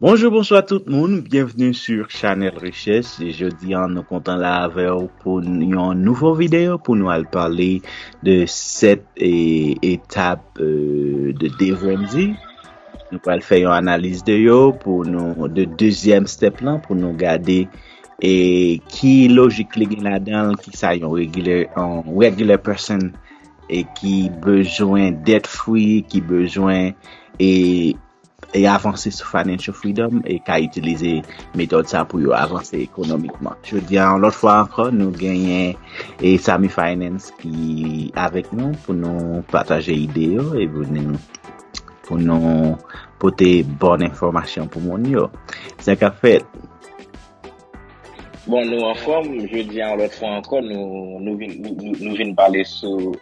Bonjou bonswa tout moun, byenvni su chanèl Richès, jodi an nou kontan la avèw pou yon nouvo video pou nou al pale de 7 etap de devrending, nou pral fè yon analiz de yo pou nou de dezyèm step lan pou nou gade e ki lojik li gen ladanl ki sa yon regilè yon regular person e ki bezwen debt free ki bezwen e e avanse sou Financial Freedom e ka itilize metòd sa pou yo avanse ekonomikman. Jodi a yon lòt fwa ankò nou genyen e Samy Finance ki avèk nou pou nou pataje ide yo e pou nou pote bon enfòmasyon pou moun yo. Sa k ap fèt? Bon nou anfòm, jodi a yon lòt fwa ankò nou vin pale sou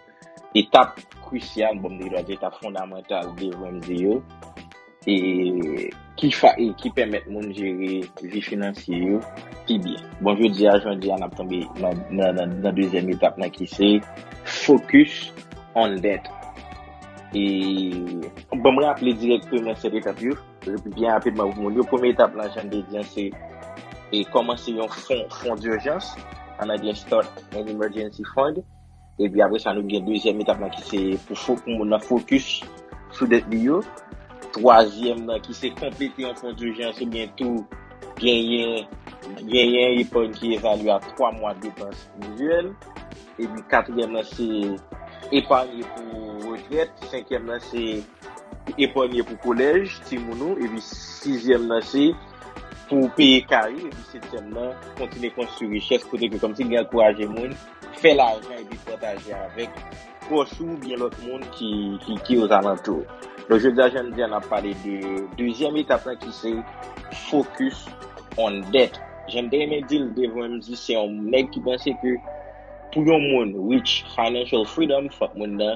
etap krisyal, bon m te dwa di etap fondamantal de Ramsey yo, e ki fa, e ki pèmèt moun jere vi finansye yo pi byen. Bon jodi a, jan di a, n ap tonbe nan, nan, nan, nan dezyèm etap nan ki se focus on debt. E, bon m raple dirèkteman 7 etap yo, byen rapidman pou moun yo. Premye etap la, jan m te di an, se e kòmanse yon fon, fon d'urgence, an anglè start an emergency fund. Epi apre sa nou gen dezyèm etap lan ki se pou moun nan fokis sou dèt li yo. Twazyèm nan ki se konplete yon fon dijans ou byen tou genyen yon epòy ki evalye a 3 mwa depans menzyèl. Epi katriyèm nan se epanye pou retrèt. Senkyèm nan se epanye pou kolèj ti moun ou. Epi sizyèm nan se pou peye kay ou. Epi setyèm nan kontinye konstwi richès kote ke kòmsi li ankouraje moun. fè lajan epi pataje avèk pwòch ou oubyen lòt moun ki ozalantou ou. Donk jodi a jan m di a n ap pale de dezyèm etap lan ki se focus on debt. Jan m te renmen di l devan m di se yon nèg ki panse ke pou yon moun reach financial freedom fòk moun nan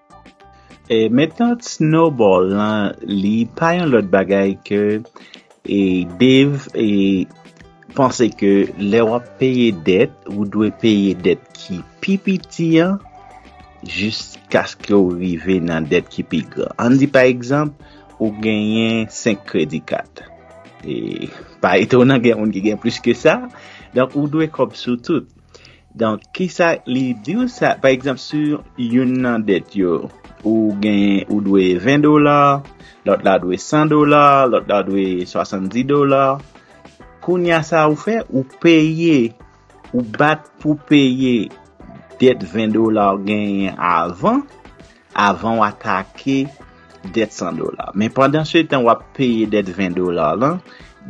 E metòd snowball lan li pa yon lòt bagay ke e Dave e panse ke lè w ap peye dèt ou dwe peye dèt ki pi piti an jiskaske w rive nan dèt ki pi gran. Ann di pa egzanp ou genyen 5 kredi kat. E pa etonan gen moun ki gen plis ke sa. Donk ou dwe kòb sou tout. Donk kisa li diw sa pa egzanp si youn nan dèt yo ou gen ou dwe 20 dola lòt la dwe 100 dola lòt la dwe 70 dola kounya sa ou fè ou peye ou bat pou peye dèt 20 dola ou genyen avan avan w atake dèt 100 dola. Men pandan se tan w ap peye dèt 20 dola lan,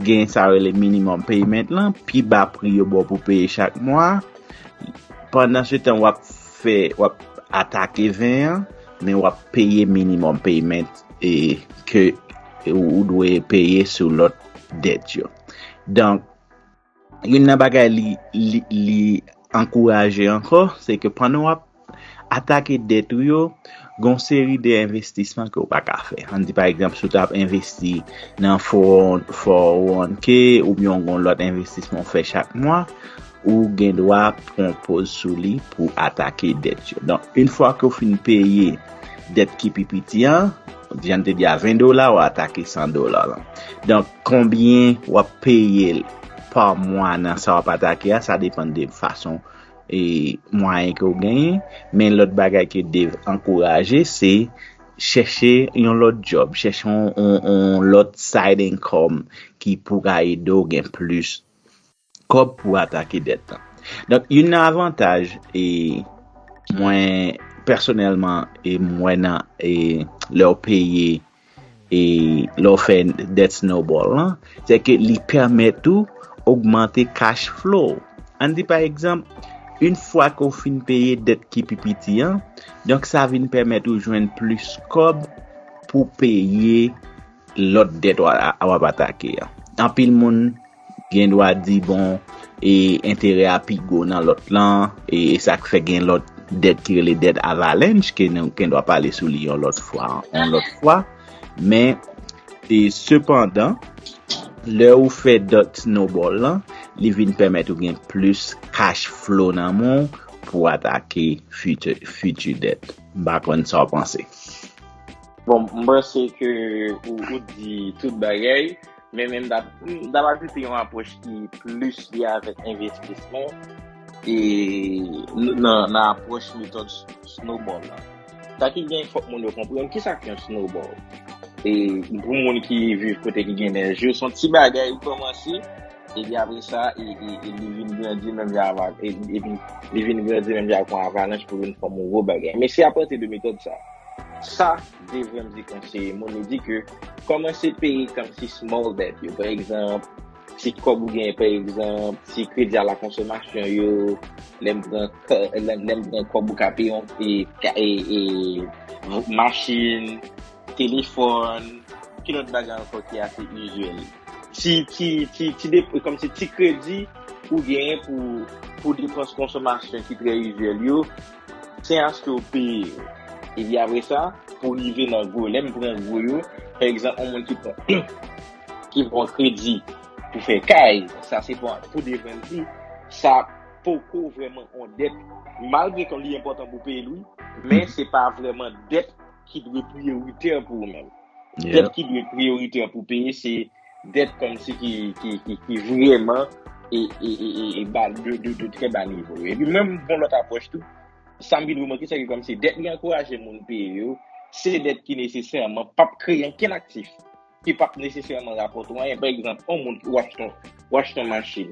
gen sa yo rele minimum payment lan, pi ba pri yo ba w pou peye chak mwa. Pandan se tan w ap fè, w ap atake 20 an, men w ap peye minimum payment e ke ou dwe peye sou lòt dèt yo. Donk. Youn nan bagay li ankouraje ankò, se ke pandan w ap atake dèt ou yo, gen yon seri de envestisman ke ou pa ka fè. An n di pa egzanp, si ou ta ap envesti nan 401k oubyen yon gwo lòt envestisman ou fè chak mwa, ou gen dwa pran poz sou li pou atake dèt yo. Donk, yon fwa ke ou fin peye dèt ki pi piti an, Vyann te di a 20 dola ou atake 100 dola lan. Donk konbyen wap peye l pa mwa nan sa wap atake a sa depan de fason e mwayen ke ou genyen. Men lòt bagay ke Dave ankouraje se chèche yon lòt djòb, chèche yon lòt side income ki pou ka ede ou gen plis. kòb pou atake dèt lan. Donk youn nan avantaj e mwen pèsonèlman e mwen nan e lè w peye e lè w fè dèt snowball lan, se ke li pèmèt ou ogmante cash flow w. An di pa egzanp, youn fwa ke w fin peye dèt ki pi piti an, donk sa vin pèmèt ou jwenn plis kòb pou peye lòt dèt w ap atake an. Anpil moun. Gen dwa di bon e enterè a pi gwo nan lòt lan e sa k fè gen lòt dèt ki rele dèt avalanche ke nou gen dwa pale sou li yon lòt fwa yon lòt fwa men e sepandan lè ou fè dèt snowball lan li vin pèmèt ou gen plis cash flow nan men w pou atake fiti fiti dèt m pa konn sa w panse. Bon, m panse ke ou di tout bagay. Men men m ta m ta pati se yon apwòch ki plis li avèk envestisman e nan nan apwòch metòd snowball la. Sa ki gen fòk moun yo konprann ki sa ki yon snowball. E pou moun ki viv kote ki gen nèj yo son ti bagay ou kòmanse epi apre sa e e e li vin grandi menm jan ava e epi li vin grandi menm jan ak yon avalanch pou vin fòm yon gwo bagay. Men se apati de metòd sa. Sa Dave Ramsey konseye moun, li di ke kòmanse peye kòmsi small debt yo, pa egzanp, ti kòb ou genyen, pa egzanp, ti kredi a la konsomasyon yo, lè m pran kò, lè m pran kòb ou ka peye yon, e, ka, e, e, machin, telefòn, ki lòt bagay ankò ki ase izyèl? Ti, ti, ti, ti dep, kòmsi ti kredi ou genyen pou, pou depans konsomasyon ki trè izyèl yo. Sen aske ou peye yo. Epi apre sa, pou rive nan gwo, lè m pran gwo yo, pa egzanp yon moun ki pran ki pran kredi pou fè kay, sa se pou pou devèn di, sa poko vrèman yon dèt, malgre ke li enpòtan pou peye l wi, men se pa vrèman dèt. ki dwe priyoritè pou ou menm. Dèt ki dwe priyoritè pou peye se dèt kòmsi ki vreman e de trè ba nivo. E pi menm bon lòt apwòch tou, sa m vin remake se ke kòmsi dèt li ankouraje moun peye yo, se dèt ki nesesèman p ap kreye ankenn aktif, ki p ap nesesèman rapòte ou anyen. Pa egzanp, yon moun ki w achete yon machin.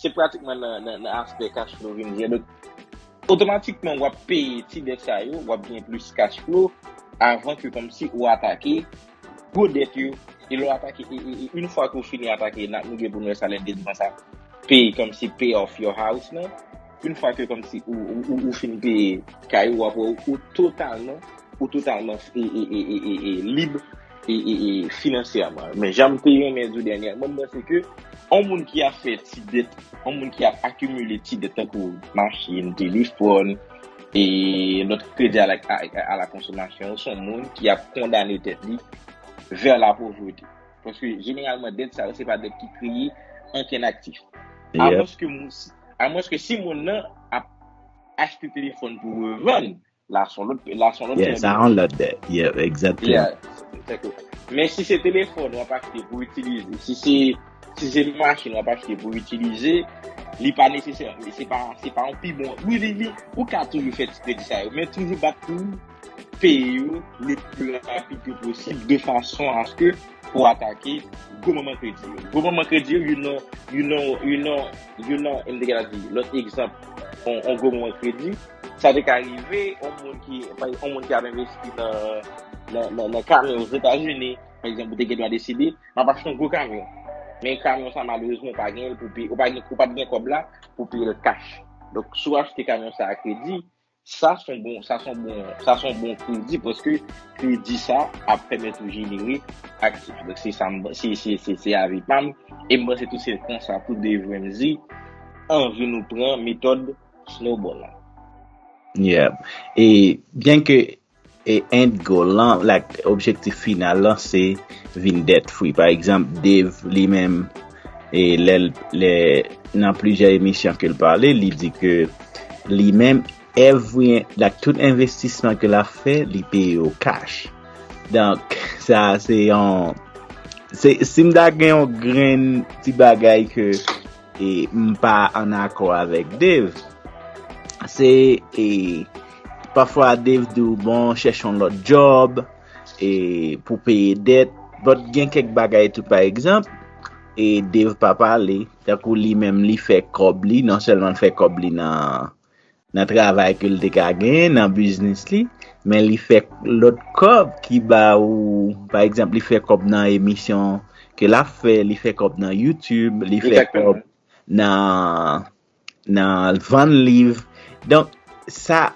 Se pratikman nan aspè cash flow vin jwe. Otomatikman wap peye ti dèt sa yo, wap gen plis cash flow avan ke kòmsi ou atake gwo dèt yo. E lè w atake, e une fwa ke w fini atake, nou gen pou nou wè sa lè 2 zan sa peye kòmsi pay off your house lan. Une fwa ke kòmsi ou fin peye kay ou aprè ou totalman, ou totalman e lib e finansyèman. Men janm te renmen di w dènyèman m panse ke yon moun ki ap fè ti dèt, yon moun ki ap akimile ti dèt tankou machin, telefòn e lòt kredi a la konsomasyon se yon moun ki ap kondane tèt li vè la povrete. Paske jeneralman dèt sa yo se pa dèt ki kreye ankenn aktif. Alòske moun si. Amwenske si moun nan ap achte telefòn pou revann, la a son lòt pè, la a son lòt pè de manje. Yeah, sa a son lòt dèt. Exactement. Men si se telefòn wap achte pou itilize, si se, si se machin wap achte pou itilize, li pa nesesè, se pa, se pa yon pi bon, wi li, li, ou ka toujou fè ti kredi sa yo, men toujou bat pou ou peye yo le pli rapid ke posib de fason aske pou atake gwo moman kredi yo. Gwo moman kredi yo, you know, you know, you know. Youn nan, m te gen la di, lòt egzanp, yon gwo moman kredi, sa te ka rive yon moun ki, pa yon moun ki ap envesti nan, nan kamyon Ozetazini, pa egzanp, ou te gen dwa deside, m ap achte yon gwo kamyon, men kamyon sa malerezman ou pa gen l pou peye, ou pa gen, ou pa t gen kòb la pou peye l kach. Donk, si w achte kamyon sa a kredi, Sa son bon, sa son bon, sa son bon kredi paske kredi sa ap pèmèt ou jenere aktif. Donk se sa m, se, se, se, se avi pa m. E m panse tou se konsa pou Dave Ramsey anvi nou pran metòd Snowball la. Yeah. E byenke E end goal lan, like objektif final lan se vin debt free. Pa egzanp Dave li menm e lè l lè nan plizyè emisyon ke l pale li di ke li menm every like tout envestisman ke l ap fè li peye yo cash. Donk sa se yon se si m ta gen yon grenn ti bagay ke e m pa an akò avèk Dave se e Pafwa Dave di w bon chèch yon lòt djòb e pou peye dèt but gen kèk bagay tou pa egzanp e Dave pa pale tankou li menm li fè kòb li non sèlman l fè kòb li nan travay ke l te ka genyen nan biznis li men li fè lòt kòb ki ba ou pa egzanp li fè kòb nan emisyon ke l ap fè li fè kòb nan youtube li fè kòb nan nan vann liv donk sa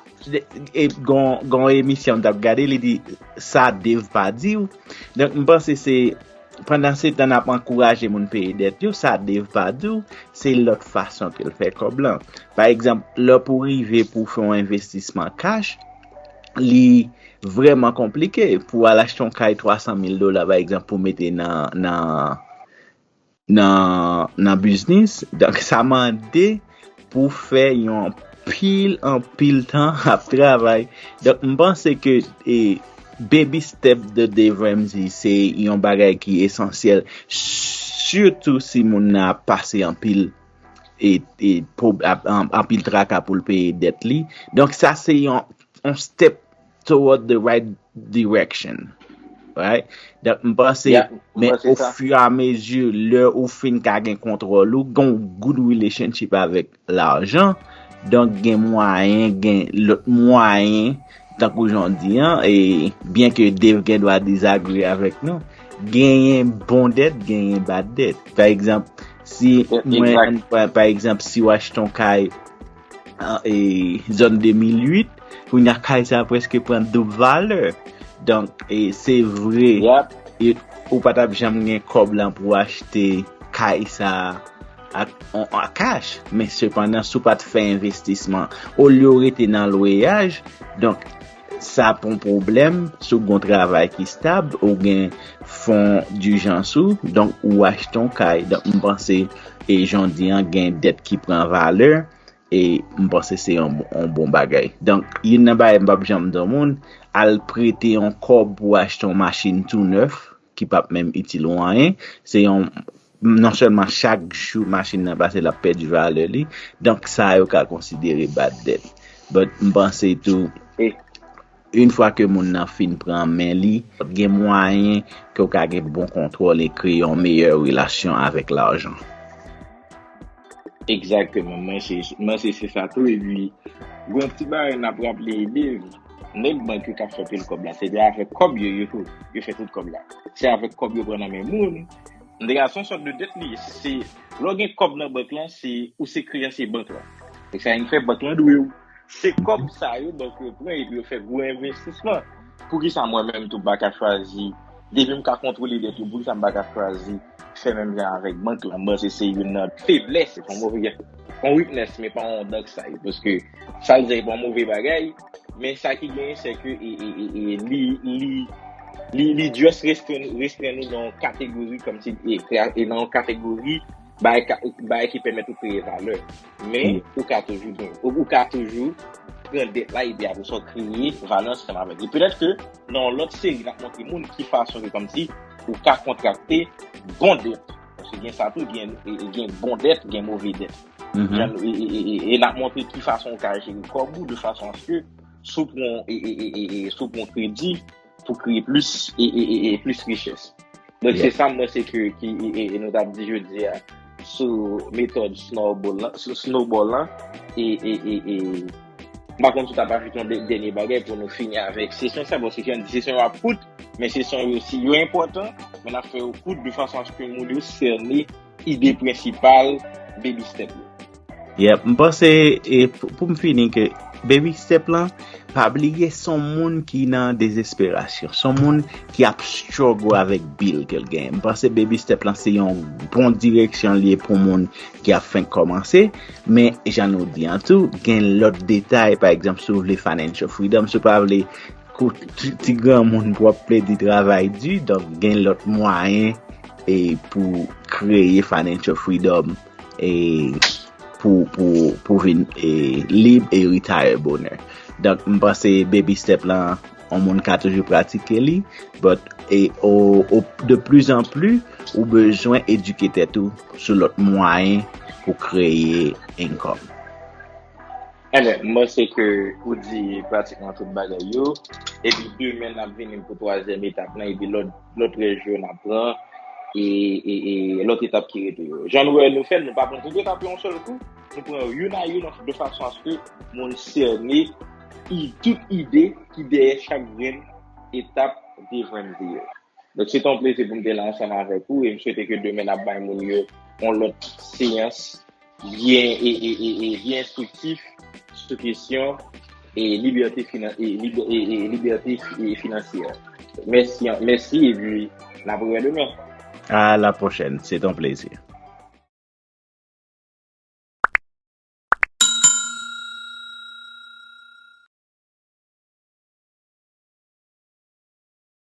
e gon emisyon m tap gade li di sa Dave pa diw donk m panse se pandan se tan nap ankouraje moun peye dèt yo sa Dave pa diw se lòt fason ke l fè kòb lan pa egzanp lè pou rive pou fè yon envestisman kach li vreman konplike pou al achte yon kay 300 mil dola pa egzanp pou mete nan nan nan biznis donk sa mande pou fè yon pil an pil tan ap travay donk m panse ke e baby step de devèm di se yon bagay ki esansyèl sitou si moun nan ap pase an pil e an pil traka pou l peye dèt li donk sa se yon step toward the right direction. Right? Dèk m panse, men ou fwi a mezi, lè ou fin ka gen kontrol ou, gen ou good relationship avèk lajan, donk gen mwayen, gen lòt mwayen, tank ou jan di an, e byen ke dev gen dwa disagree avèk nou, gen yon bon dèt, gen yon bad dèt. Fè egzamp, si mwen, pa egzamp, si w achte yon kay, e zòn 2008 kounye a kay sa preske pran doub valè donk e se vre ou pa tap janm gen kòb lan pou achte kay sa ak kach men sepandan sou pat fè envestisman olye ou rete nan lweyaj donk Sa pa yon pwoblèm si w gen yon travay ki stab, ou gen fon dijans ou, donk ou achte yon kay. Donk m panse e jan w di an gen dèt ki pran valè e m panse se yon bon bagay. Donk youn nan bagay m p ap janm di yon moun, al prete yon kòb pou w achte yon machin tou nèf. ki pap menm itil ou anyen, se yon, non sèlman chak jou machin nan pase lap pèdi valè li, donk sa yo ka konsidere bad debt. But m panse tou, yn fwa ke moun nan fin pran men li, gen mwayen ke ou ka gen bon kontwòl e kreye yon meyè relasyon avèk lajan. Exactement mwen se mwen se se sa tou epi gon ti bagay nap raple Dave nèg bank yo kap fè pil kòb la se de avèk kòb yo yo tou yo fè tout kòb la se avèk kòb yo pran nan men moun an tou ka son sòt de dèt li ye se lè w gen kòb nan bank lan se ou se kreyansye bank lan se sa ki fè bank lan dwe w se kòb sa yo bank yo pran epi yo fè gwo envestisman poukisa mwen menm tou m pa ka chwazi depi m ka kontwole dèt yo poukisa m pa ka chwazi fè menm jan avèk bank lan. Bon, se se youn nan feblès, se pa yon move, yon weakness, men pa yon dark side. Paske, sa l di a se pa yon move bagay, men sa ki genyen se ke li, li, li, li just restren, restren nou nan yon kategori, kòm si, e nan yon kategori, bay, bay ki pèmèt ou kreye valè. Men, ou ka toujou gen, ou ka toujou pran det la epi apre sa ou kreye valè ansanm avèk li. Petèt ke nan yon lòt seri n ap montre moun ki fason ke kòmsi ou ka kontrakte bon det. Paske gen sa tou, gen bon det, gen move det. E n ap montre ki fason ou ka jere kòb ou de fason aske si w pran kredi, pou kreye plis e plis richès. Donk se sa mwen se ke ki e nou tap di jodi a sou metòd snowball lan e e e e mwen konjou tap ajoute yon dènye bagay pou nou fini avèk se son sa bon se jan di se son yo ap kout men se son yo si yo enpòtan men ap fè yo kout de fason aske moun yo sène ide prensipal baby step yo. Yep, m panse e poum fini ke baby step lan pa bliye son moun ki nan desesperasyon, son moun ki ap struggle avèk bil kel genyen. M panse baby step lan se yon bon direksyon li ye pou moun ki ap fenk kòmanse, men jan nou di an tou gen lòt detay pa egzanp si w vle financial freedom, si w pa vle kout ti granmoun pou ap plede travay di, donk gen lòt mwayen e pou kreye financial freedom. e pou vin e lib e retire bonè donk m panse baby step lan on moun ka toujou pratike li but e o de plus en plus ou bezwen edike tèt ou sou lòt mwayen pou kreye income Anyway, m panse ke ou di pratikman tout bagay yo, epi demen n ap vini pou twazyèm etap lan, epi lòt lòt rèj yo n ap pran, e, e, e lòt etap ki rete yo. Jan nou wè nou fè l, nou pa pran tout etap yo yon sèl kou, nou pran yo youn a youn an, de fason aske moun sène i, tout ide ki dèyè chak grenn etap de Vwendy yo. Donk se te yon plezi pou m te la ansanm avèk ou, e m swete ke demen n ap bay moun yo yon lòt seyans. Byen e e e e byen enstriktif sou kesyon e libète finan e li e e libète e finansyè. Mèsi an mèsi epi n ap wè demen. A la pwochèn. Se t on plezi.